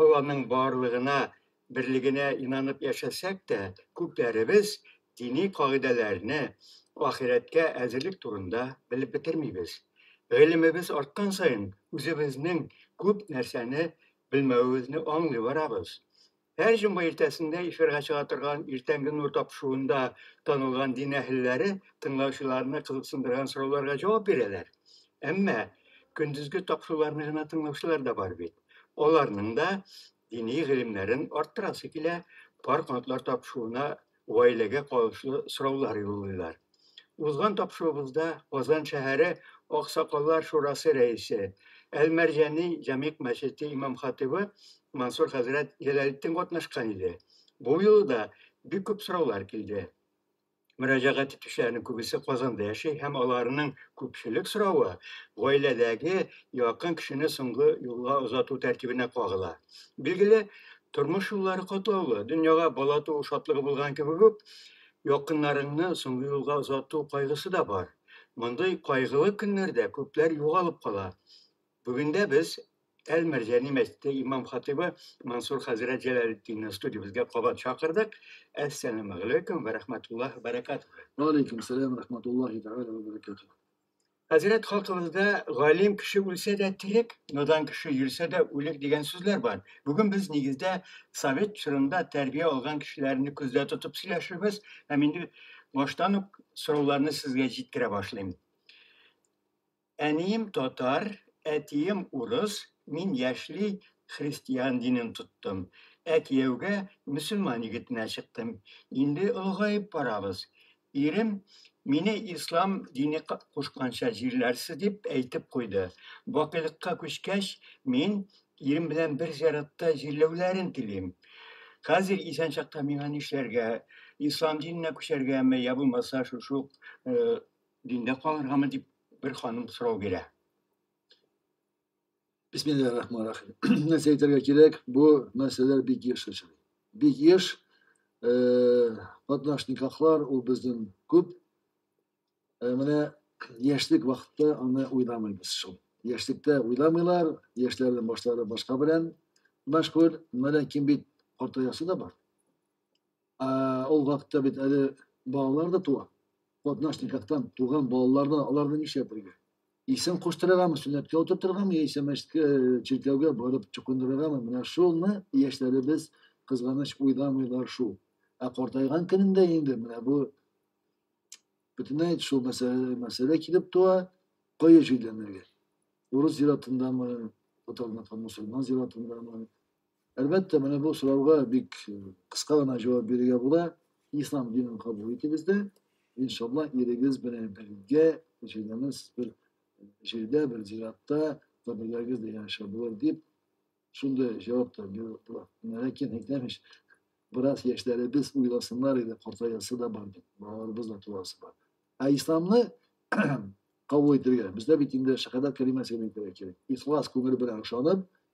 Алланың барлыгына, берлегенә инанып яшәсәк тә, күпләребез дини кагыйдәләрне, ахирәткә әзерлек турында белеп бетермибез. Гыйлемебез арткан саен, үзебезнең күп нәрсәне белмәвебезне аңлый барабыз. Һәр җомга иртәсендә эфирга чыга торган Иртәнге нур тапшыруында танылган дин әһелләре тыңлаучыларны кызыксындырган сорауларга җавап бирәләр. Әмма көндезге тапшыруларны гына тыңлаучылар да бар бит. Аларның да дини гыйлемнәрен арттырасы килә, пар канатлар тапшыруына гаиләгә кагылышлы сораулар юллыйлар. Узган тапшыруыбызда Казан шәһәре Аксакаллар шурасы рәисе, Әл-Мәрҗани Җәмигъ мәчете имам-хатыйбы Мансур хәзрәт Җәләлетдин катнашкан иде. Бу юлы да бик күп сораулар килде. мөрәҗәгать итүчеләрнең күбесе Казанда яши һәм аларның күпчелек соравы гаиләдәге якын кешене соңгы юлга озату тәртибенә кагыла. Билгеле, тормыш юллары катлаулы. Дөньяга бала туу шатлыгы булган кебек үк, якыннарыңны соңгы юлга озату кайгысы да бар. Мондый кайгылы көннәрдә күпләр югалып кала. Бүгендә без Әл-Мәрҗани мәчете имам-хатыйбы Мансур хәзрәт Җәләлетдинны студиябезгә кабат чакырдык. Әссәламу алейкум вә рәхмәтуллаһи вә бәрәкатүһү. Вә алейкум сәлам вә рәхмәтуллаһи тәгалә вә бәрәкатүһү. Хәзрәт хакыбызда галим кеше үлсә дә терек, надан кеше йөрсә дә үлек дигән сүзләр бар. Бүген без нигездә совет чорында тәрбия алган кешеләрне күздә тотып сөйләшербез һәм инде баштан ук сорауларны сезгә җиткерә башлыйм. Әнием татар, әтием урыс, мин яшьли христиан динен тоттым. Ә кияүгә мөселман егетенә чыктым. Инде олыгаеп барабыз. Ирем мине ислам дине кушканча җирләрсез дип әйтеп куйды. Бакыйлыкка күчкәч, мин ирем белән бер зиратта җирләүләрен телим. Хәзер исән чакта миңа нишләргә, ислам диненә күчәргәме, йә булмаса шушы ук Диндә калыргамы дип бер ханым сорау бирә. Бисмиллахи рахмани рахим. Нәрсә әйтергә кирәк? Бу мәсьәләләр бик еш очрый. Бик еш катнаш никахлар ул безнең күп. Менә яшьлек вакытта аны уйламыйбыз шул. Яшьлектә уйламыйлар, яшьләрнең башлары башка белән мәшгуль. Менә ким бит картаясы да бар. Ә, ул вакытта бит әле балалар да туа. Катнаш никахтан туган балалар да аларны нишләп бергә? Исем куштырыргамы, сөннәткә утыртыргамы, яисә мәчеткә, чиркәүгә барып чукындырыргамы? Менә шуны яшьләребез кызганыч уйламыйлар шул. Ә картайган көнендә инде менә бу бөтенләй шул мәсьәлә, мәсьәлә килеп туа, кая җирләнергә? Урыс зиратындамы, татарныкы мусульман зиратындамы, Әлбәттә, менә бу сорауга бик э, кыска гына җавап бирергә була. Ислам динен кабул итегез дә, иншалла, ирегез белән бергә җирдәмез бер э, җирдә, бер зиратта, каберләрегез дә яшәп булыр дип, шундый җавап та биреп була. Ләкин әйтәмеш, бераз яшьләребез уйласыннар иде, картаясы да бар бит, балаларыбыз да туасы бар. Ә исламны кабул итергә, бездә бит инде шәһадәт кәлимәсен әйтергә кирәк. Ихлас күңел белән ышанып,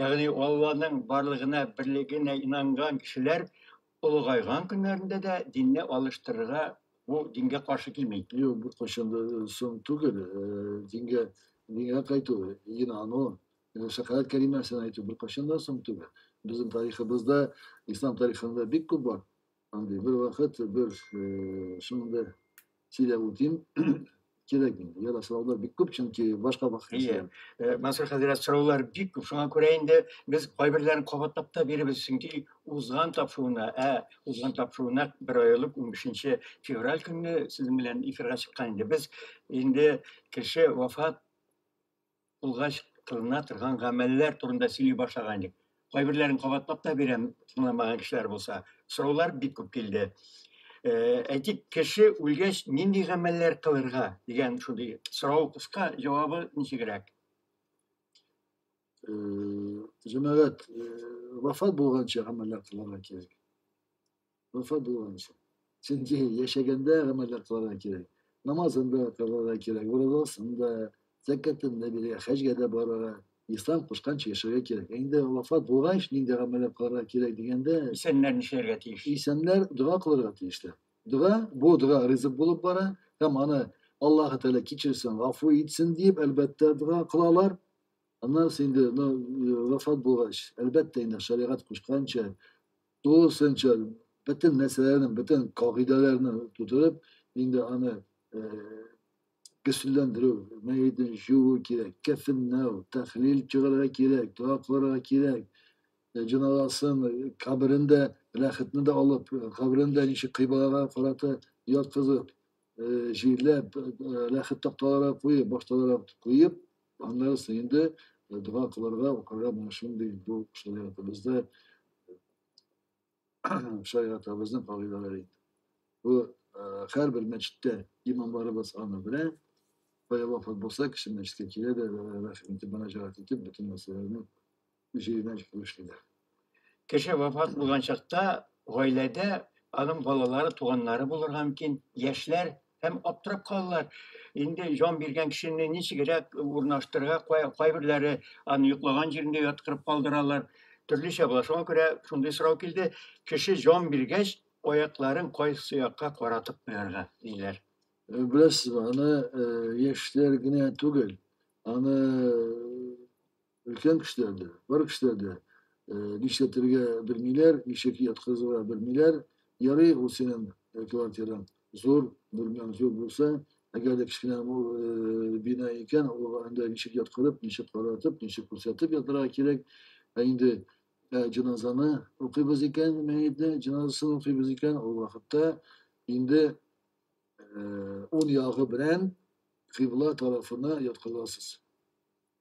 Ягъни Алланың барлыгына, берлегенә инанган кешеләр олыгайган көннәрендә дә динне алыштырырга бу дингә каршы килми. Юк, бу кайчан да соң түгел. Дингә, дингә кайту, инану, шәфәгать кәлимәсен әйтү бер кайчан да соң түгел. Безнең тарихыбызда, ислам тарихында бик күп бар. Андый бер вакыт бер э, шундый сөйләп үтим. Кирәк инде. Яра сораулар бик күп, чөнки башка вакыт. Ие. Э, Мансур хәзрәт сораулар бик күп. Шуңа күрә инде без кайберләрен кабатлап та биребез, чөнки узган тапшыруына, ә узган тапшыруына бер ай элек 15 февраль көнне сезнең белән эфирга чыккан инде. Без инде кеше вафат Булгач, кылына торган гамәлләр турында сөйли башлаган идек. Кайберләрен кабатлап та бирәм, тыңламаган кешеләр булса. Сораулар бик күп килде. Э, әйтик, кеше үлгәч, нинди гамәлләр кылырга дигән шундый сорау кыска, җавабы ничегрәк? Э, җәмәгать, э, вафат булганча гамәлләр кылырга кирәк. вафат булганнан соң. Чөнки яшәгәндә гамәлләр кылырга кирәк. Намазын да кылырга кирәк, уразасын да, зәкәтен дә бирергә, хаҗга да барырга, ислам кушканча яшәргә кирәк. Ә инде вафат булгач, нинди гамәлләр кылырга кирәк дигәндә, Исәннәр нишләргә тиеш? исәннәр дога кылырга тиешләр. Дога, бу дога ризык булып бара һәм аны Аллаһы Тәгалә кичерсен, гафу итсен дип, әлбәттә, дога кылалар. Аннан соң инде ну, э, вафат булгач, әлбәттә инде шәригать кушканча тулысынча бөтен нәрсәләрне бөтен кагыйдәләрне тутырып инде аны көчләндерү мәетен жуу кирәк кәфенләү тәхлил чыгарырга кирәк дога кылырга кирәк җинадасын каберен дә рәхәтне дә алып каберен дә ничек кыйблага карата яткызып җирләп рәхәт такталарга куеп башталарак куеп Аннары соң инде дога кылырга, укырга менә шундый бу шәригатыбызда шәригатыбызның кагыйдәләре инде. Бу һәрбер мәчеттә имамларыбыз аны белә. Бая вафат булса, кеше мәчеткә килә дә, рәхим итеп, мөнәҗәгать итеп, бөтен мәсьәләләрне музеена җитмешлиләр. Кеше вафат булган чакта гаиләдә аның балалары, туганнары булырга мөмкин, яшьләр һәм аптырап калалар. Инде җан биргән кешене ничегрәк урнаштырырга, кайберләре аны йоклаган җирендә яткырып калдыралар. Төрлечә була. Шуңа күрә шундый сорау килде, кеше җан биргәч, аякларын кайсы якка каратып куярга диләр. Э, беләсезме, аны э, яшьләр генә түгел, аны Өлкән кешеләр дә, бар кешеләр дә нишләтергә белмиләр, ничек яткызырга белмиләр. Ярый, ул синең квартираң зур, бүлмәң зур булса, әгәр дә кечкенә бина икән, ул анда ничек яткырып, ничек каратып, ничек күрсәтеп ятырга кирәк. Ә инде җеназаны укыйбыз икән, мәетне җеназасын укыйбыз икән, ул вакытта инде ун ягы белән кыйбла тарафына яткырасыз.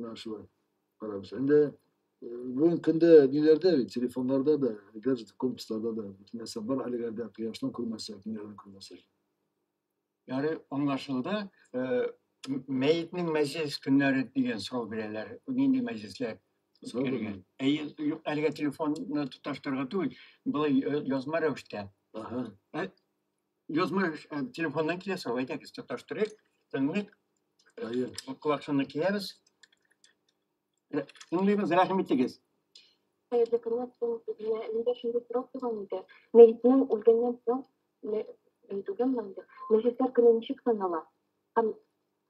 Менә шулай карабыз. Инде бүгенге көндә ниләрдә бит, телефоннарда да, гаджет комплексларда да бөтен нәрсә бар әлегәрдә кояшны күрмәсәк, ниләрне күрмәсәк. Яны аңлашылды. Мәетнең мәҗлес көннәре дигән сорау бирәләр. Нинди мәҗлесләр? Кергән. Әйе, юк, әлегә телефонны тоташтырырга түгел, былай язма рәвештә. Ага. Язмыш э, телефоннан килә сау, әйдәгез, тоташтырыйк, тыңлыйк. Әйе. Колакчынны киябез. Э, Тыңлыйбыз, рәхим итегез. Хәерле көннәр син үзенә нидә шундый сорап туган иде. Мәетнең үлгәннән соң мәйтүгән мәңге. Мәҗлесләр көне ничек санала? Һәм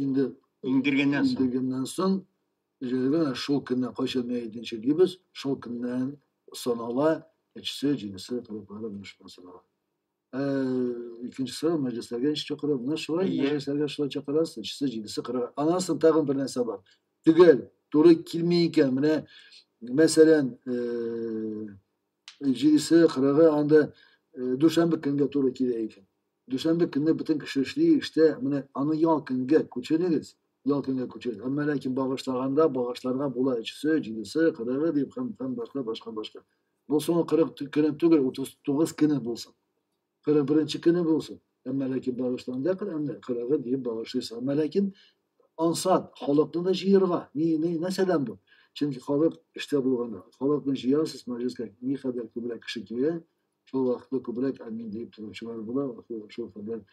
инде иңдергәннән соң иңдергәннән соң җәйгә шул көнне кайчан мәетенче дибез шул көннән санала әчесе җинесе кылыклары менә шулай санала ә, икенче сорау мәҗлесләргә ничек чакыра менә шулай yeah. мәҗлесләргә шулай чакырасыз әчесе җинесе кырыгы аннан соң тагын бер нәрсә бар төгәл туры килми икән менә мәсәлән җидесе, кырыгы анда э, дүшәмбе көнгә туры килә икән. Дүшәмбе көнне бөтен кеше эшли, эштә, менә аны ял көнгә күчерегез, ял көнгә күчерегез. Әмма ләкин багышлаганда багышларга була өчесе, җидесе, кырыгы дип һәм һәм башка башка башка. Бу соңгы кырык көнен түгел, утыз тугыз көне булсын. Кырык беренче көне булсын. Әмма ләкин багышланда Коръәнне кырыгы диеп багышлыйсы. Әмма ләкин ансат халыкны да җыерга. Ни ни нәрсәдән бу? Чөнки халык эштә булганда, халыкны җыярсыз мәҗлескә ни кадәр күбрәк кеше килә, шул вакытта күбрәк әмин диеп торучылар була, шул кадәр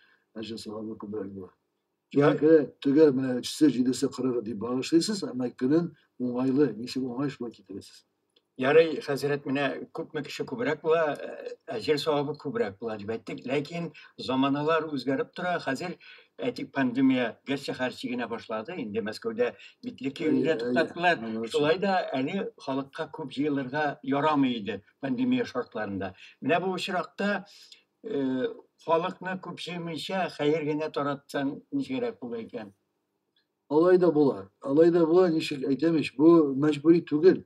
әҗәсалары күбрәк була. Киһәке, төгәл менә өчсе, җидесе, кырыгы дип багышлыйсыз, әмма көнен уңайлы, ничек уңай шулай китерәсез. Ярый, хәзрәт, менә күпме кеше күбрәк була, әҗер савабы күбрәк була дип әйттек. Ләкин заманалар үзгәреп тора. Хәзер әйтик пандемия гәрчә хәрчи генә башлады. Инде Мәскәүдә битле киемне туктаттылар. Шулай да әле халыкка күп җыелырга ярамый иде пандемия шартларында. Менә бу очракта халыкны күп җыймыйча хәер генә таратсаң ничегрәк була икән? Алай да була. Алай да була, ничек әйтәм ич, бу мәҗбүри түгел.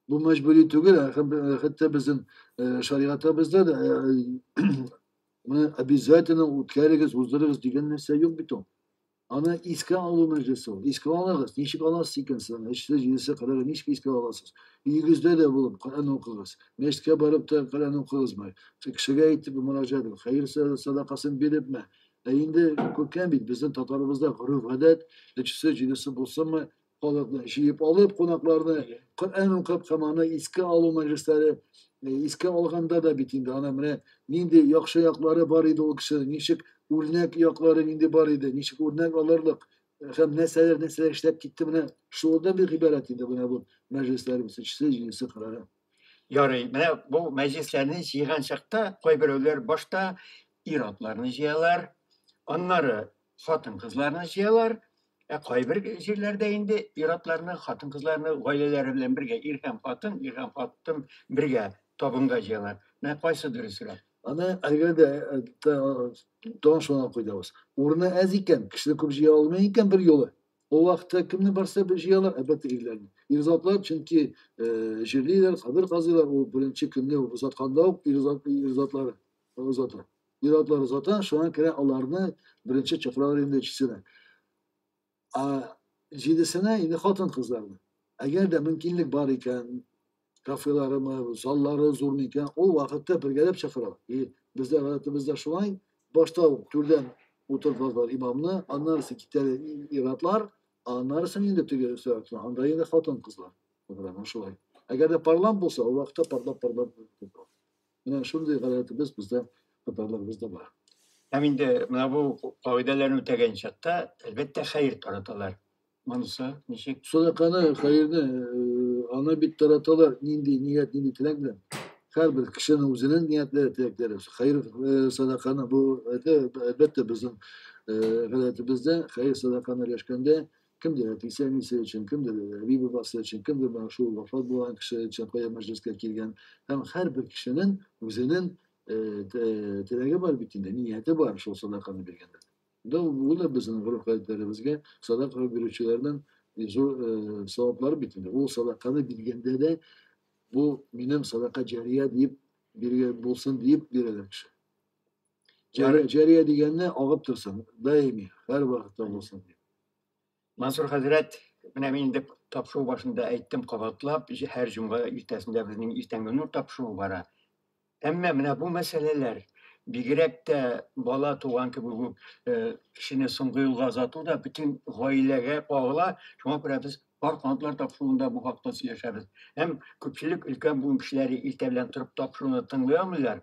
Бу мәҗбүри түгел, хәтта безнең шаригатыбызда да моны обязательно үткәрегез, уздырыгыз дигән нәрсә юк бит ул. Аны искә алу мәҗлесе ул. Искә алыгыз, ничек аласыз икән сез аны? Өчсе, җидесе, кырыгы ничек искә аласыз? Өегездә дә булып Коръән укыгыз. Мәчеткә барып та Коръән укыгызмы? Кешегә әйтеп мөрәҗәгать итеп, хәер садакасын бирепме? Ә инде күркәм бит, безнең татарыбызда гореф-гадәт, өчсе, җидесе булсынмы, халыкны җыеп алып, кунакларны Коръән укып һәм аны искә алу мәҗлесләре искә алганда да бит инде аны менә нинди яхшы яклары бар иде ул кешенең, ничек үрнәк яклары нинди бар иде, ничек үрнәк алырлык һәм нәрсәләр нәрсәләр эшләп китте менә шулардан бик гыйбарәт иде менә бу мәҗлесләребез өчесе, җидесе, кырыгы. Ярый, менә бу мәҗлесләрне җыйган чакта кайберәүләр башта ир-атларны җыялар, аннары хатын-кызларны җыялар, ә кайбер җирләрдә инде ир-атларны, хатын-кызларны гаиләләре белән бергә, ир һәм хатын, ир һәм хатын бергә табынга җыялар. Менә кайсы дөресрәк? Аны әгәр дә э, тагын шуны куйдабыз. Урыны әз икән, кешене күп җыя алмый икән бер юлы. Ул вакытта кемне барса бер җыялар, әлбәттә ирләрне. Ир затлар чөнки э, җирлиләр, кабер казыйлар, ул беренче көнне узатканда ук ир затлары. озата. Ир-атлар озата, шуңа күрә аларны беренче чакыралар инде өчесенә. Ә җидесенә инде хатын-кызларны. Әгәр дә мөмкинлек бар икән, кафеларымы, заллары зур микән, ул вакытта бергәләп чакыралар. И бездә гадәтебездә шулай, башта ук түрдән утырталар имамны, аннарысы китәләр ир-атлар, аннарысын инде теге өстәлгә, анда инде хатын-кызлар. Шулай. Әгәр дә парлап булса, ул вакытта парлап-парлап Менә шундый гадәтебез бездә татарларыбызда бар. Һәм инде менә бу кагыйдәләрне үтәгән чакта, әлбәттә, хәер тараталар. Монысы ничек? Садаканы, хәерне ана бит тараталар, нинди ният, нинди теләк белән. Һәрбер кешенең үзенең ниятләре, теләкләре. Хәер садаканы бу әлбәттә безнең гадәтебездә хәер садаканы өләшкәндә Kimdir Әтисе, әнисе өчен, кемдер әби бабасы өчен, кемдер менә шул вафат булган кеше өчен кая мәҗлескә килгән. Һәм һәрбер кешенең үзенең теләге бар бит инде, нияте бар шул садаканы биргәндә. Да ул да безнең гореф-гадәтләребезгә садака бирүчеләрнең зур саваплары бит инде. Ул садаканы биргәндә дә бу минем садака җария дип биргән булсын дип бирәләр кеше. Җәрия, җәрия дигәнне агып торсын, даими, һәр вакытта булсын дип. Мансур хәзрәт, менә мин инде тапшыру башында әйттем кабатлап, һәр җомга иртәсендә безнең иртәнге нур тапшыруы бара. Әмма менә бу мәсьәләләр бигрәк тә бала туган кебек үк э, кешене соңгы юлга озату да бөтен гаиләгә кагыла. Шуңа күрә без бар канатлар тапшыруында бу хакта сөйләшәбез. Һәм күпчелек өлкән буын кешеләре иртә белән торып тапшыруны тыңлый алмыйлар.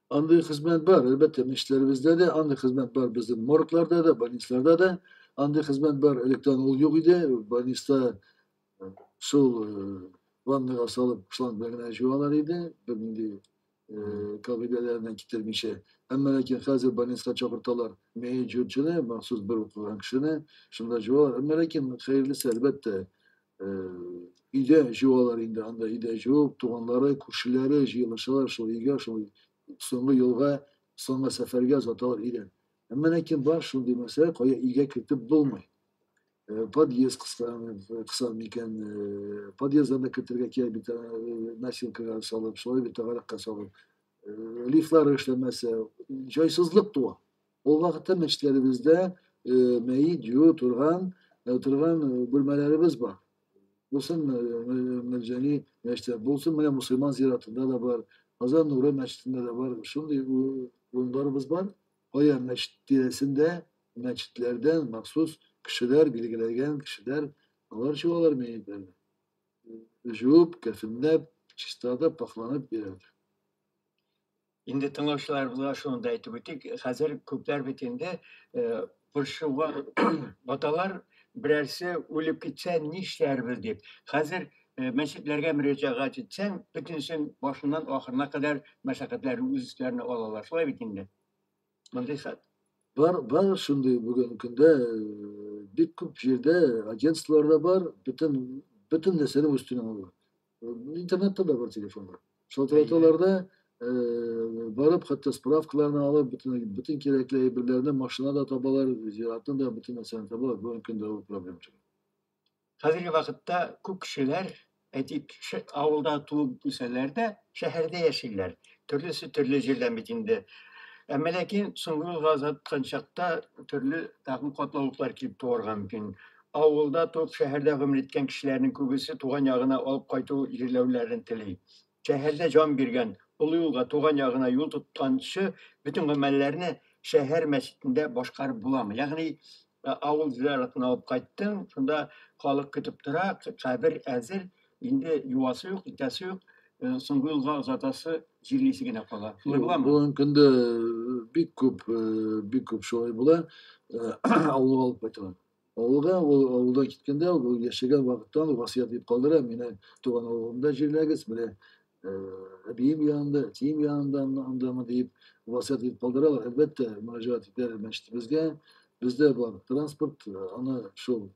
Андый хезмәт бар, әлбәттә, мешчеләребездә дә, андый хезмәт бар безнең моргларда да, больницларда да. Андый хезмәт бар, электән ул юк иде, больниста э, шул э, ваннага салып шланг белән генә җуалар иде, бернинди э, кагыйдәләреннән китермичә. Әмма ләкин хәзер больниска чакырталар мәет җүрчене, махсус бер укыган кешене, шунда җуалар. Әмма ләкин хәерлесе, әлбәттә, өйдә җыалар инде, анда өйдә җыып, туганлары, күршеләре җыелышалар шул өйгә, шул соңгы юлга, соңгы сәфәргә озаталар өйдән. Әмма ләкин бар шундый мәсьәлә, кая өйгә кертеп булмый. Подъезд кыса микән, подъезддан да кертергә кирәк бит, носилкага салып, шулай бит, тагаракка салып. Лифтлары эшләмәсә, җайсызлык туа. Ул вакытта мәчетләребездә мәет юу торган, торган бүлмәләребез бар. Булсын Мәҗәни мәчете, булсын менә мусульман зиратында да бар, Казан Нуры мәчетендә дә бар. Шундый урыннарыбыз бар. Кая мәчет тирәсендә, мәчетләрдән махсус кешеләр, билгеләгән кешеләр, алар чуалар мәетләрне. Жуып, кәфенләп, чистартып, пахланып бирәләр. Инде тыңлаучыларыбызга шуны да әйтеп үтик, хәзер күпләр бит инде борчуга баталар, берәрсе үлеп китсә нишләрбез дип. Хәзер мәчетләргә мөрәҗәгать итсәң, бөтенесен башыннан ахырына кадәр мәшәкатьләрен үз өсләренә алалар. Шулай бит инде. Мондый хәл. Бар, бар шундый бүген көндә бик күп җирдә агентстволар да бар, бөтен бөтен нәрсәне үз өстенә алалар. Интернетта да бар телефонлар. Шул телефонларда барып хәтта справкаларны алып бөтен бөтен кирәкле әйберләрне машина да табалар зиратны да бөтен нәрсәне табалар бүгенге көндә ул проблем түгел хәзерге вакытта күп кешеләр әйтик авылда туып үсәләр дә шәһәрдә яшиләр төрлесе төрле җирдән бит инде әмма ләкин соңгы юлга озаткан чакта төрле тагын катлаулыклар килеп туарга мөмкин Авылда туып, шәһәрдә гомер иткән кешеләрнең күбесе туган ягына алып кайту җирләүләрен тели. Шәһәрдә җан биргән, олы юлга, туган ягына юл тотканчы бөтен гамәлләрне шәһәр мәчетендә башкарып буламы? Ягъни, авыл зиратына алып кайттың, шунда халык көтеп тора, кабер әзер, инде юасы юк, итәсе юк, соңгы юлга озатасы, җирлисе генә кала. Шулай буламы? Бүгенге көндә бик күп, бик күп шулай була. Авылга алып кайталар. Авылга ул авылдан киткәндә үк, ул яшәгән вакыттан ук васыять итеп калдыра, мине туган авылымда җирләгез, менә э, әбием янында, әтием янында анда- андамы диеп васыять итеп калдыралар. Әлбәттә, мөрәҗәгать итәр мәчетебезгә. Бездә бар транспорт, э, аны шул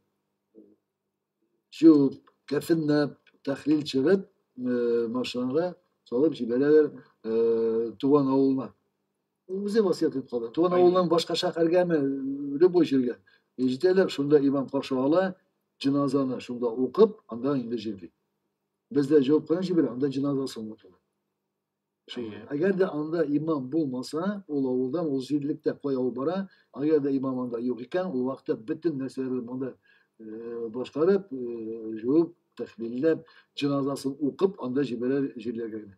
җуып, кәфенләп, тәхлил чыгып, э, машинага салып җибәрәләр э, туган авылына. үзе васыять итеп калды туган авылыннан башка шәһәргәме любой җиргә җитәләр шунда имам каршы ала җеназаны шунда укып анда инде җирли бездә җавап кына җибәрә анда җеназасы онытыла әгәр дә анда имам булмаса ул авылдан ул җирлектә кай авыл бара әгәр дә имам анда юк икән ул вакытта бөтен нәрсәләрне монда э, башкарып э, жуып тәхлилләп җеназасын укып анда җибәрә җирләргә генә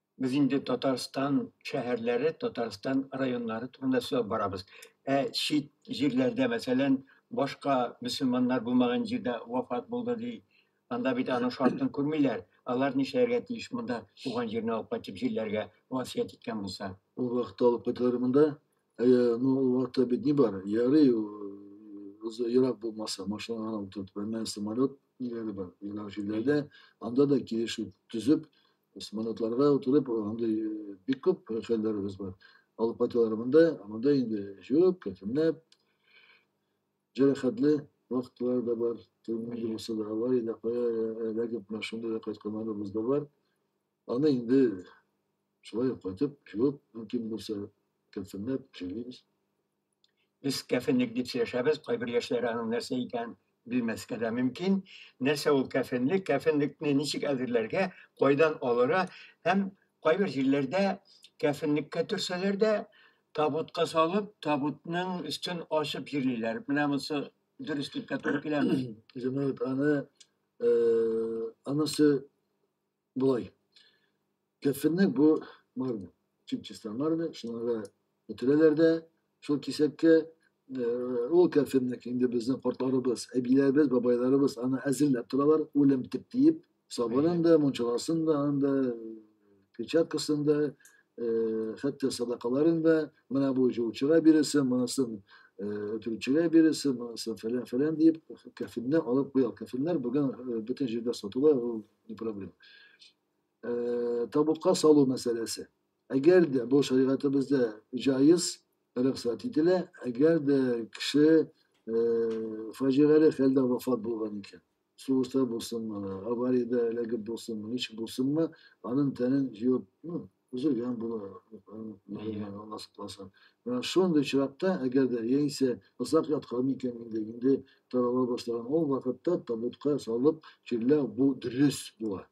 Без инде Татарстан шәһәрләре, Татарстан районнары турында сөйләп барабыз. Ә чит җирләрдә, мәсәлән, башка мөселманнар булмаган җирдә вафат булды ди. Анда бит аның шартын күрмиләр. Алар нишләргә тиеш монда туган җиренә алып кайтып җирләргә васыять иткән булса? Ул вакытта алып кайталар монда. Әйе, ну ул вакытта бит ни бар? Ярый, ерак булмаса, машина гына утыртып, әмма самолет ниләре бар, ерак җирләрдә. Анда да килешү төзеп, Космонавтларга утырып андый э, бик күп хәлләребез бар. Алып кайталар монда, монда инде җуып, кәфенләп, җәрәхәтле вакытлар да бар. Төнге булса да алай да кая эләгеп машинада да кайтканнарыбыз да бар. Аны инде шулай ук кайтып, җуып, мөмкин булса, кәфенләп җөйлибез. Без кәфенлек дип сөйләшәбез, кайбер яшьләр аның нәрсә икәнен белмәскә дә мөмкин. Нәрсә ул кәфенлек, кәфенлекне ничек әзерләргә, кайдан алыра һәм кайбер җирләрдә кәфенлеккә төрсәләр дә, табутка салып, табутның өстен ачып җирлиләр. Менә монысы дөрес дип тә туры киләме? Җәмәгать аны э, анысы Болай. Кәфенне бу марна, чип-чиста марна, шуңа бөтерәләр дә шул кисәккә ул кәфенне инде безнең кортларыбыз, әбиләребез, бабайларыбыз аны әзерләп торалар, үлем тип диеп, сабынын да, мунчаласын да, анда перчаткасын да, хәтта садакаларын да, менә бу җылчыга бирәсең, монысын өтүчегә бирәсең, монысын фәлән-фәлән диеп, кәфенне алып куя. Кәфеннәр бүген бөтен җирдә сатыла, ул не проблема. Э, табутка салу мәсьәләсе. Әгәр дә бу шәригатебездә җаиз, рөхсәт ителә, әгәр дә кеше э, фаҗигале хәлдә вафат булган икән, сугышта булсынмы, авариядә эләгеп булсынмы, ничек булсынмы, аның тәнен җыеп, ну, Үзелгән була, мәйгән, Алла сакласын. Менә шундый очракта, әгәр дә яисә озак яткан икән инде, инде тарала башлаган, ул вакытта табутка салып чирләү бу дөрес була.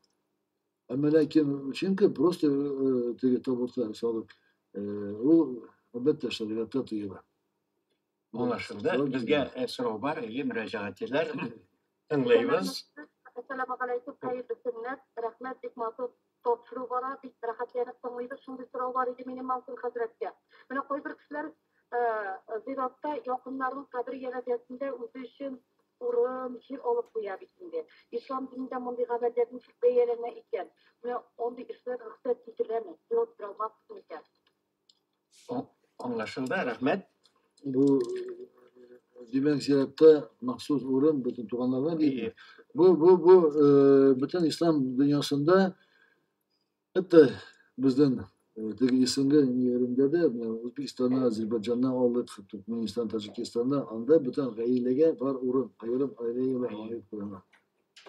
Әмма ләкин чөнки просто э, э, теге табутка салып, э, ул әлбәттә шәригатьтә тыела. булашылды. Безгә э, сорау бар, әйе, мөрәҗәгать итәләр. Тыңлыйбыз. Әссәламу алейкум, хәерле көннәр. Рәхмәт, бик матур тапшыру бара, бик рәхәтләнеп тыңлыйбыз. Шундый сорау бар иде минем Мансур хәзрәткә. Менә кайбер кешеләр э, зиратта якыннарының кабер янәзәсендә үзе өчен урын, җир алып куя бит инде. Ислам динендә мондый гадәтләр ничек бәяләнә икән? Менә андый эшләр рөхсәт ителәме? Җавап бирә алмассыз микән? Аңлашылды, рәхмәт. Бу димәк зиратта махсус урын бөтен туганнарга бирелә. Бу бу бу э, бөтен ислам дөньясында хәтта безнең э, теге исемле ниләрендә дә Үзбекстаннан, Азербайҗаннан алдык, Туркменистан, Таҗикистаннан анда бөтен гаиләгә бар урын, аерым гаиләгә аерым куела.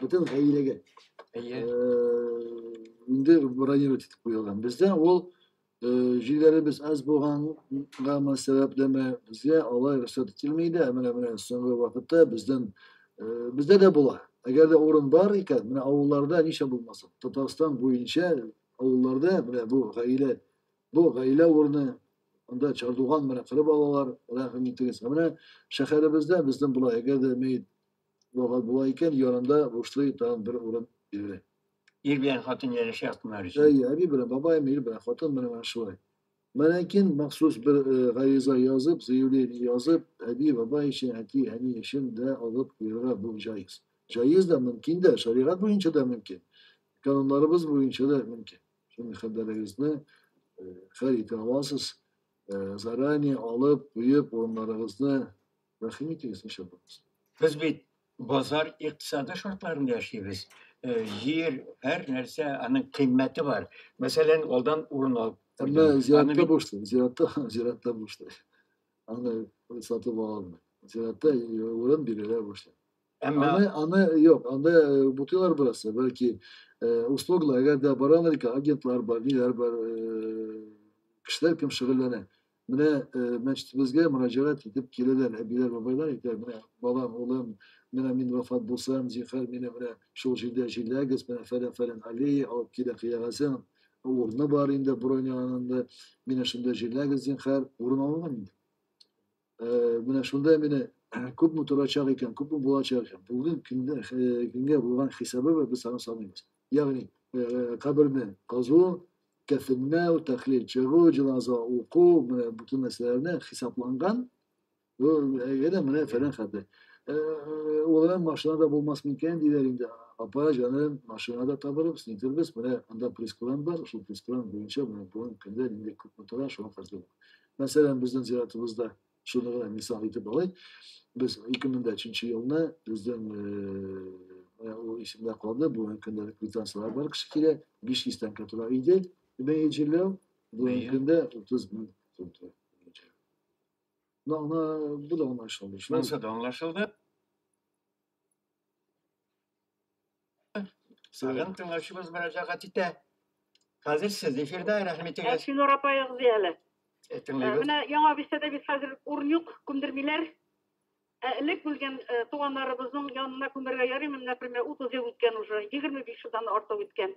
Бөтен гаиләгә. Әйе. Э, инде бронировать итеп куелган. Бездә ул җилләребез аз булгангамы сәбәплеме безгә алай рөхсәт ителми дә ә менә менә соңгы вакытта бездән бездә дә була әгәр дә урын бар икән менә авылларда ничә булмасын татарстан буенча авылларда менә бу гаилә бу гаилә урыны анда чардуган менә кырып алалар рәхим итегез ә менә шәһәребездә бездән була әгәр дә мәет вафат була икән янында бушлый тагын бер урын бирелә ир белән хатын ярәшә яктылар өчен. Әйе, әби белән бабаем, ир белән хатын менә менә шулай. Мөнәкин махсус бер э, гариза язып, заявление язып, әби, бабай өчен, әти, әни өчен дә алып куярга бу җаиз. Җаиз да, мөмкин дә, шәригать буенча да мөмкин. Кануннарыбыз буенча да мөмкин. Шуның хәбәрегезне э, хәл итә аласыз. Э, заранее алып, куеп, урыннарыгызны Рәхим итегез, ошо булмас. Без бит базар икътисады шартларында яшибез. Э, җир, һәр нәрсә, аның кыйммәте бар. Мәсәлән, алдан урын алып. Әмма зиратта бушты, зиратта, зиратта бушты. Аны сатып ала алмый. Зиратта урын бирелә бушты. Әмма аны, аны юк, анда э, бутыйлар бераз, бәлки э, услугла, әгәр дә барамрика, агентлар бар, ниләр бар, кешеләр кем шөгыльләнә. Менә э, мәчетебезгә мөрәҗәгать итеп киләләр әбиләр, бабайлар әйтә, менә балам, улым, менә мин вафат булсам, зинхар мине менә шул җирдә җирләгез, менә фәлән фәлән аллея алып килә кыягазын, урыны бар инде броняланында, мине шунда җирләгез, зинхар, урын алынган инде. Э, менә шунда мине күпме торачак икән, күпме булачак икән, бүген көнгә булган хисабы без аны саныйбыз. Ягъни, каберне казу, кәфенләү, тәхлил чыгу, җеназа уку, менә бүтән нәрсәләрне хисапланган. Бу әгәр менә фәлән хәтле. Улым машинада булмас микән диләр инде. Апа җаным, машинада табылып, снитербез, менә анда прескуран бар, шул прескуран буенча менә бүгенге көндә нинди күпме тора, шуңа каршы. Мәсәлән, безнең зиратыбызда Шуны гына мисал итеп алыйк. Без 2003 елны безнең ул исемдә калды, бу көндә квитанцияләр бар кеше килә, 500 тәңкә тора иде. Бәя җирләү бүгенге көндә 30 мең сум тора. Ну, ана, бу да аңлашылды. Шунысы да аңлашылды. Сагын тыңлаучыбыз мөрәҗәгать итә. Хәзер сез эфирда, рәхим итегез. Әфинур апа язды әле. Э, тыңлыйбыз. Э, менә яңа бистәдә без хәзер урын юк, күмдермиләр. Ә элек үлгән э, туганнарыбызның янына күмергә ярыймы, например, 30 ел үткән уже, 25 елдан артык үткән.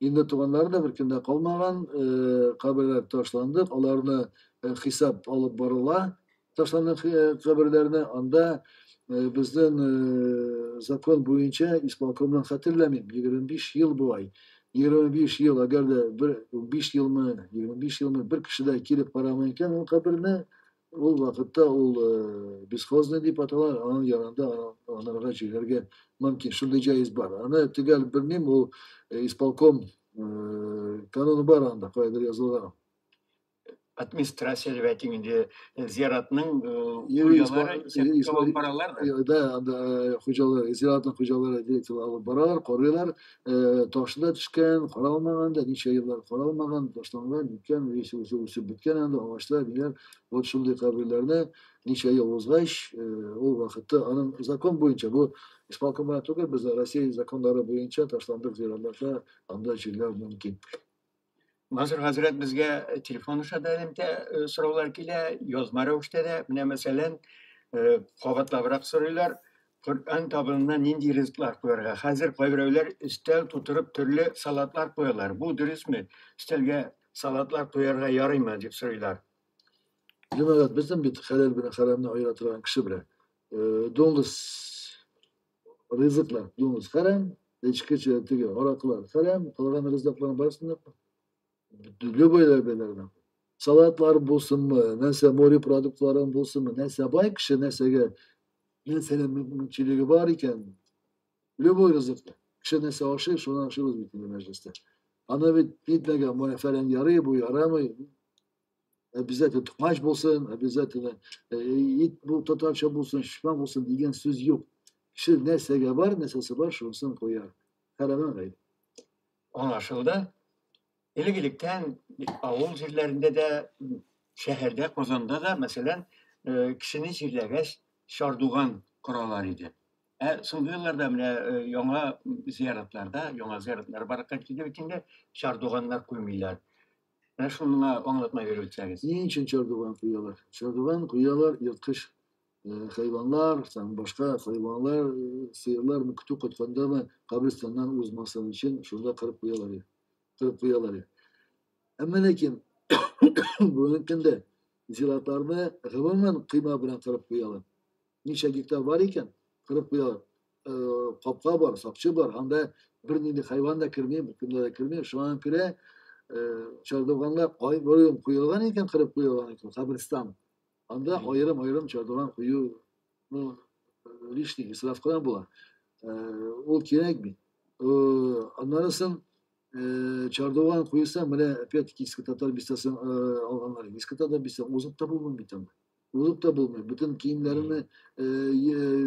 Инде туганнары да бер кемдә калмаган, каберләр ташланды, аларны хисап алып барыла. Ташланган каберләрне анда безнең закон буенча исполкомның хәтерләмим, 25 ел болай. 25 ел, әгәр дә 5 елмы, 25 елмы бер кеше дә килеп карамый икән ул каберне, Ул вакытта ул э, бесхозный дип атала, аның янында анарга җигәргә мөмкин. Шундый җайыз бар. Аны төгәл белмим, ул э, исполком э, кануны бар анда, кайдыр язылган. Администрация дип әйтик инде, зиратның хуҗалары исәпкә алып баралар да. Да, анда хуҗалар, зиратның хуҗалары директор алып баралар, корыйлар, э, ташына төшкән, каралмаган да, ничә еллар каралмаган, ташланган, беткән, яисә үзе үсеп беткән анда агачлар, ниләр, вот шундый каберләрне ничә ел узгач, э, ул вакытта аның закон буенча, бу исполком белән түгел, без Россия законнары буенча ташландык зиратларда анда җирләү мөмкин. Насыр хәзрәт безгә э, телефон аша да элемтә э, сораулар килә, язма рәвештә дә. Менә мәсәлән, э, кабатлабрак сорыйлар, Коръән табынына нинди ризыклар куярга? Хәзер кайберәүләр өстәл тутырып төрле салатлар куялар. Бу дөресме? Өстәлгә салатлар куярга ярыймы дип сорыйлар. Җәмәгать, безнең бит хәләл белән хәрамны аера торган кеше белән. Э, Дуңгыз ризыклар, дуңыз хәрәм, эчке теге араклар хәрәм, калган ризыкларның барысын да любой белән. Салатлар булсынмы, нәрсә море продуктларын булсынмы, нәрсә бай кеше, нәрсәгә нәрсәнең мөмкинчелеге бар икән, любой ризыклар. Кеше нәрсә ашый, шуны ашыйбыз бит инде мәҗлестә. Аны бит нитмәгән, моны фәлән ярый, бу ярамый. обязательно тукмач булсын, обязательно э, ит бу татарча булсын, шифа булсын дигән сүз юк. Кеше нәрсәгә бар, нәрсәсе бар, шунысын куя. Хәрәмә гайб. Аңлашылды. Элек-электән авыл җирләрендә дә, шәһәрдә, Казанда да, мәсәлән, э, кешене җирләгәч, шардуган коралар иде. Ә соңгы елларда менә э, яңа зияратларда, яңа зияратлар баракка килде бит инде, шардуганнар күрмиләр. Ә шуны миңа аңлатма биреп үтсәгез. Ни өчен чардуган куялар? Чардуган куялар ерткыч э, хайванлар, там башка хайванлар, э, сыерлар мы көтү кайтканда мы кабристаннан узмасын өчен шунда кырып куялар иде. Кырып куялар иде. Әмма ләкин бүгенге көндә зиратларны гомумән кыйма белән кырып куялар. Ничә гектар бар икән, кырып куялар. капка бар, сакчы бар, анда бер нинди хайван да керми, бөтенләй дә керми, шуңа күрә чардуганга аерым куелган икән, кырып куелган икән, каберстан. Анда аерым-аерым чардуган кую, ну, лишний исраф кына була. Ул кирәк бит. Аннары соң чардуган куйса, менә опять-таки иске татар бистәсен алганнар. Иске татар бистәсен узып та булмый бит анда. Узып та булмый. Бүтін киемләреңне э,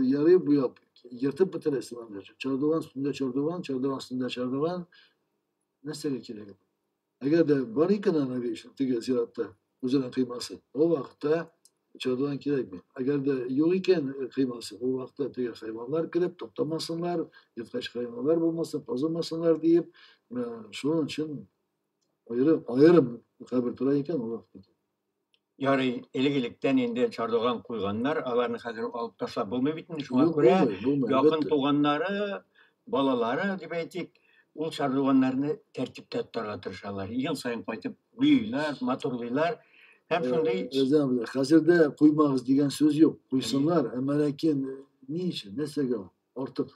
ярый буяп, ертып бетерәсең анда. Чардуган өстендә чардуган, чардуган өстендә чардуган. Нәрсәгә кирәк? Әгәр дә бар икән ана вешен, теге зиратта, үзенең кыймасы, ул вакытта чардуган кирәкми. Әгәр дә юк икән э, кыймасы, ул вакытта теге хайваннар килеп туктамасыннар, ерткач хайваннар булмасын, казымасыннар диеп, э, шуның өчен аерым, аерым кабер тора икән ул вакытта. Ярый, элек-электән инде чардуган куйганнар, аларны хәзер алып ташлап булмый бит инде. Шуңа күрә якын туганнары, балалары дип әйтик, ул чардуганнарны тәртиптә тотарга тырышалар. Ел саен кайтып буйлар, матурлыйлар. Һәм э, шундый Рәзә абый, хәзер дә куймагыз дигән сүз юк. Куйсыннар, әмма ләкин ни өчен, нәрсәгә ул? Артык.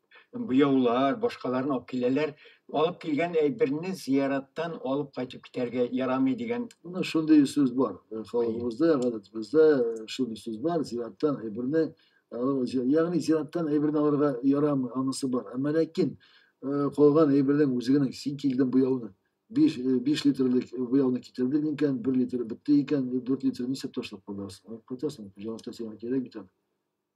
буяулар, башкаларны алып киләләр. Алып килгән әйберне зияраттан алып кайтып китәргә ярамый дигән. Менә шундый сүз бар. Э, халкыбызда, гадәтебездә э, шундый сүз бар. Зияраттан әйберне ягъни зияраттан әйберне алырга ярамый, анысы бар. Әмма ләкин э, калган әйбернең үзе генә син килдең буяуны. 5 5 литрлык буяуны китердең икән, 1 литр бетте икән, 4 литр нисәп ташлап каласың? Кайтасың, җавап та сиңа кирәк бит.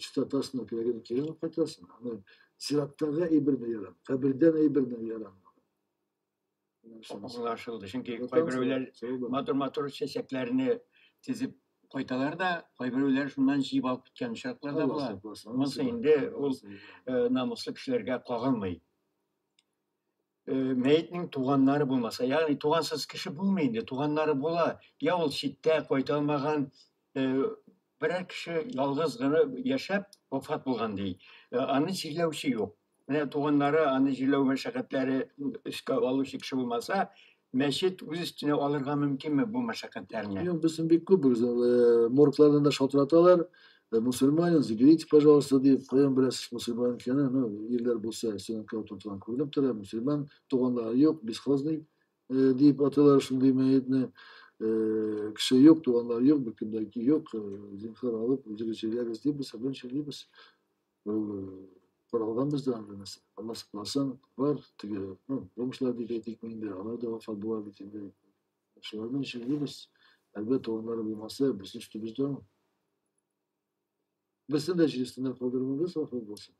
Чита ташның кирәген кирәк кайтасың. Аны зираттарга әйберне ярам, кабердән әйберне ярам. Аңлашылды. Чөнки кайберәүләр матур-матур чәчәкләрне тезеп кайталар да, кайберәүләр шуннан җыеп алып киткән очраклар да була. Монысы инде ул намуслы кешеләргә кагылмый. э, мәетнең туганнары булмаса, ягъни тугансыз кеше булмый инде, туганнары була, я ул читтә кайта алмаган э, берәр кеше ялгыз гына яшәп вафат булган ди. Э, аны җирләүче юк. Менә туганнары аны җирләү мәшәкатьләре өскә алучы кеше булмаса, мәчет үз өстенә алырга мөмкинме бу мәшәкатьләрне? Юк, безнең бик күп, э, морглардан да шалтыраталар. Ә мусульманин, заберите, пожалуйста, дип, каян беләсез мусульман икәнен, ну, ирләр булса, синең кәү тотылган күренеп тора, мусульман, туганлары юк, бесхозный, э, дип аталар шундый мәетне, э, кеше юк, туганлар юк, беркемдә юк, э, зинхар алып, үзегез җәйләгез дип, без белән җәйлибез. Ул э, каралган бездә анда нәрсә. Алла сакласын, бар, теге, ну, бомжлар дип әйтик инде, алар да вафат була бит инде. Шуларның өчен дибез, әлбәттә, урыннары булмаса, безнең өстебездә ул. Берсен дә җирсенә калдырмагыз, гафу булсын.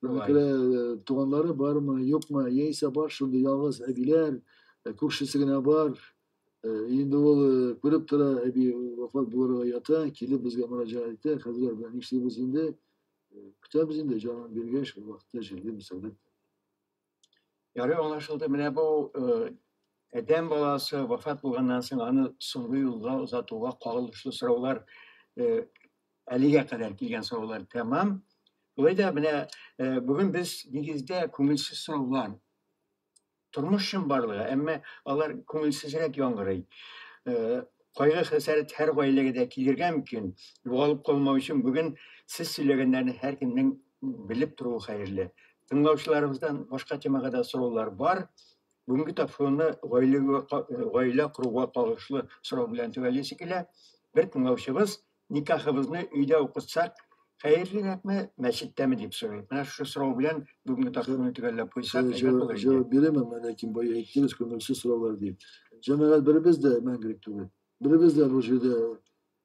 Күрә э, туганлары бармы, юкмы, яисә бар шундый ялгыз әбиләр, э, күршесе генә бар. Э, инде ул күреп тора, әби вафат булырга ята, килеп безгә мөрәҗәгать итә, хәзер белән нишлибез инде? Көтәбез инде, җанын биргәч, вакытта җирлибез әлбәттә. Ярый аңлашылды. Менә бу адәм баласы вафат булганнан соң аны соңгы юлга озатуга кагылышлы сораулар әлегә кадәр килгән сораулар тәмам. Болай да менә бүген без нигездә күңелсез сораулар тормыш чынбарлыгы, әмма алар күңелсезрәк яңгырый. Кайгы-хәсәрәт һәр гаиләгә дә килергә мөмкин. Югалып калмау өчен бүген сез сөйләгәннәрне һәркемнең белеп торуы хәерле. Тыңлаучыларыбыздан башка темага да сораулар бар. Бүгенге тапшыруны гаиләгә гаилә коруга кагылышлы сорау белән төгәллисе килә. Бер тыңлаучыбыз Никахыбызны өйдә укытсак, хәерлерәкме, мәчеттәме дип сорый. Менә шушы сорау белән бүгенге тактаны төгәлләп куйсак, әйбәт Җавап булыр иде. җавап бирәм, әмма ләкин бай әйттегез, күңелсез сораулар ди. Җәмәгать беребез дә мәңгелек түгел. Беребез дә бу җирдә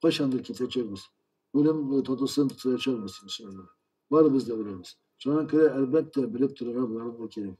кайчандыр китәчәкбез. Үлем татусын тоячакбыз, иншалла. Барыбыз да үләбез. Шуңа күрә, әлбәттә, белеп торырга боларны да кирәк.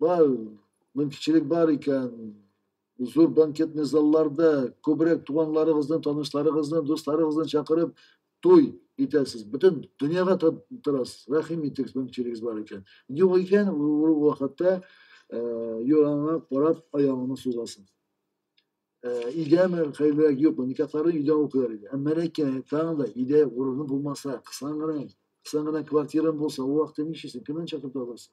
Бар, мөмкинчелек бар икән, зур банкетный залларда күбрәк туганларыгызны, танышларыгызны, дусларыгызны чакырып, туй итәсез. Бөтен дөньяга торасыз. Рәхим итегез, мөмкинчелегез бар икән. Юк икән, ул вакытта юраңа карап аягыңны сузасың. Өйдәме, хәерлерәк юкмы? Никахларын өйдә укыйлар иде. Әмма ләкин тагын да өйдә урыны булмаса, кысан гына, кысан гына квартирам булса, ул вакытта ничисең, кемнән чакырып алырсың?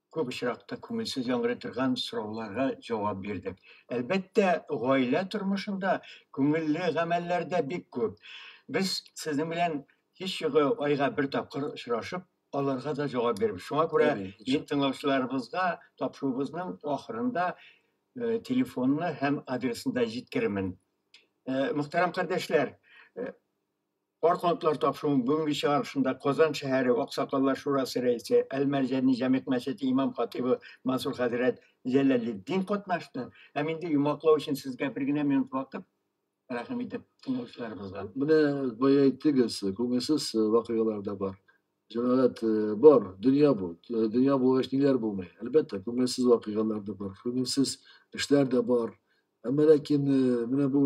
күп очракта күңелсез яңгырый торган сорауларга җавап бирдек. Әлбәттә, гаилә тормышында күңелле гамәлләр дә бик күп. Без сезнең белән һич югы айга бер тапкыр очрашып, аларга да җавап бирбез. Шуңа күрә мин тыңлаучыларыбызга тапшыруыбызның ахырында э, телефонны һәм адресны да җиткерермен. Э, мөхтәрәм кардәшләр, э, Карт хатлар тапшыруның бүгенге чыгарылышында Казан шәһәре аксакаллар шурасы рәисе, Әл-Мәрҗани җәмигъ мәчете имам-хатыйбы Мансур хәзрәт Җәләлетдин катнашты. Һәм инде йомгаклау өчен сезгә бер генә минут вакыт, рәхим итеп, тыңлаучыларыбызга. Менә бая әйттегез, күңелсез вакыйгалар да бар. Җәмәгать, бар, дөнья бу. Дөнья булгач, ниләр булмый? Әлбәттә, күңелсез вакыйгалар да бар, күңелсез эшләр дә бар. Әмма ләкин менә бу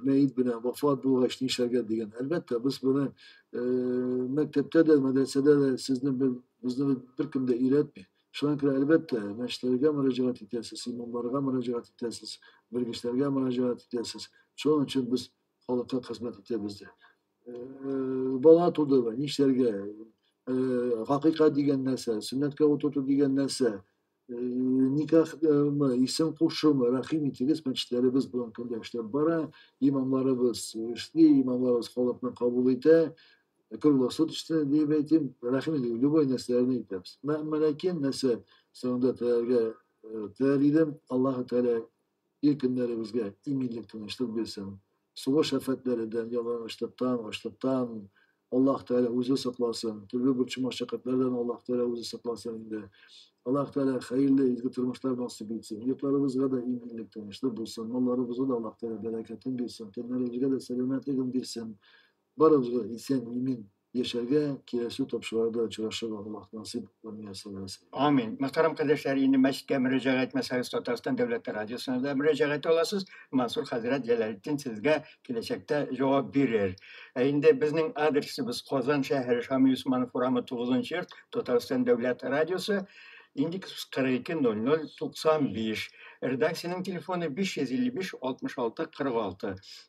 мәет белән вафат булгач нишләргә дигән. Әлбәттә, без моны мәктәптә дә, мәдрәсәдә дә сезне безне беркем дә өйрәтми. Шуңа күрә әлбәттә, мәчетләргә мөрәҗәгать итәсез, имамнарга мөрәҗәгать итәсез, белгечләргә мөрәҗәгать итәсез. Шуның өчен без халыкка хезмәт итәбез дә. Бала тудымы, нишләргә? Хакыйкать дигән нәрсә, сөннәткә утырту дигән нәрсә, Э, никах э, исем кушу рәхим итегез мәчетләребез белән көндә эшләп бара имамларыбыз эшли имамларыбыз халыкны кабул итә круглосут эшли дип әйтим рәхим итегез любой нәрсәләрне әйтәбез мәмәләкин нәрсә соңында теләргә э, теләр идем аллаһы тәгалә Ир көннәребезгә иминлек, тынычлык бирсен. Сугыш афәтләридән, ялангачлыктан, ачлыктан Аллаһ Тәгалә үзе сакласын. Төрле борчу-машәкатьләрдән Аллаһ Тәгалә үзе сакласын инде. Аллаһ Тәгалә хәерле, изге тормышлар насыйп итсен. Йортларыбызга да иминлек, тынычлык булсын. Малларыбызга да Аллаһ Тәгалә бәрәкәтен бирсен. Тәннәребезгә дә сәламәтлеген бирсен. Барыбызга исән имин яшәргә, киләсе тапшыруларда очрашырга Аллаһ насыйп күрмәсен. Амин. Мөхтәрәм кардәшләр, инде мәчеткә мөрәҗәгать итмәсәгез, Татарстан дәүләте радиосына да мөрәҗәгать итә аласыз. Мансур хәзрәт Җәләлетдин сезгә киләчәктә җавап бирер. Ә инде безнең адресыбыз Казан шәһәре Шамил Усманов урамы 9 нчы йорт, Татарстан дәүләт радиосы, индекс 42 00 95. Редакциянең телефоны 555 66 46.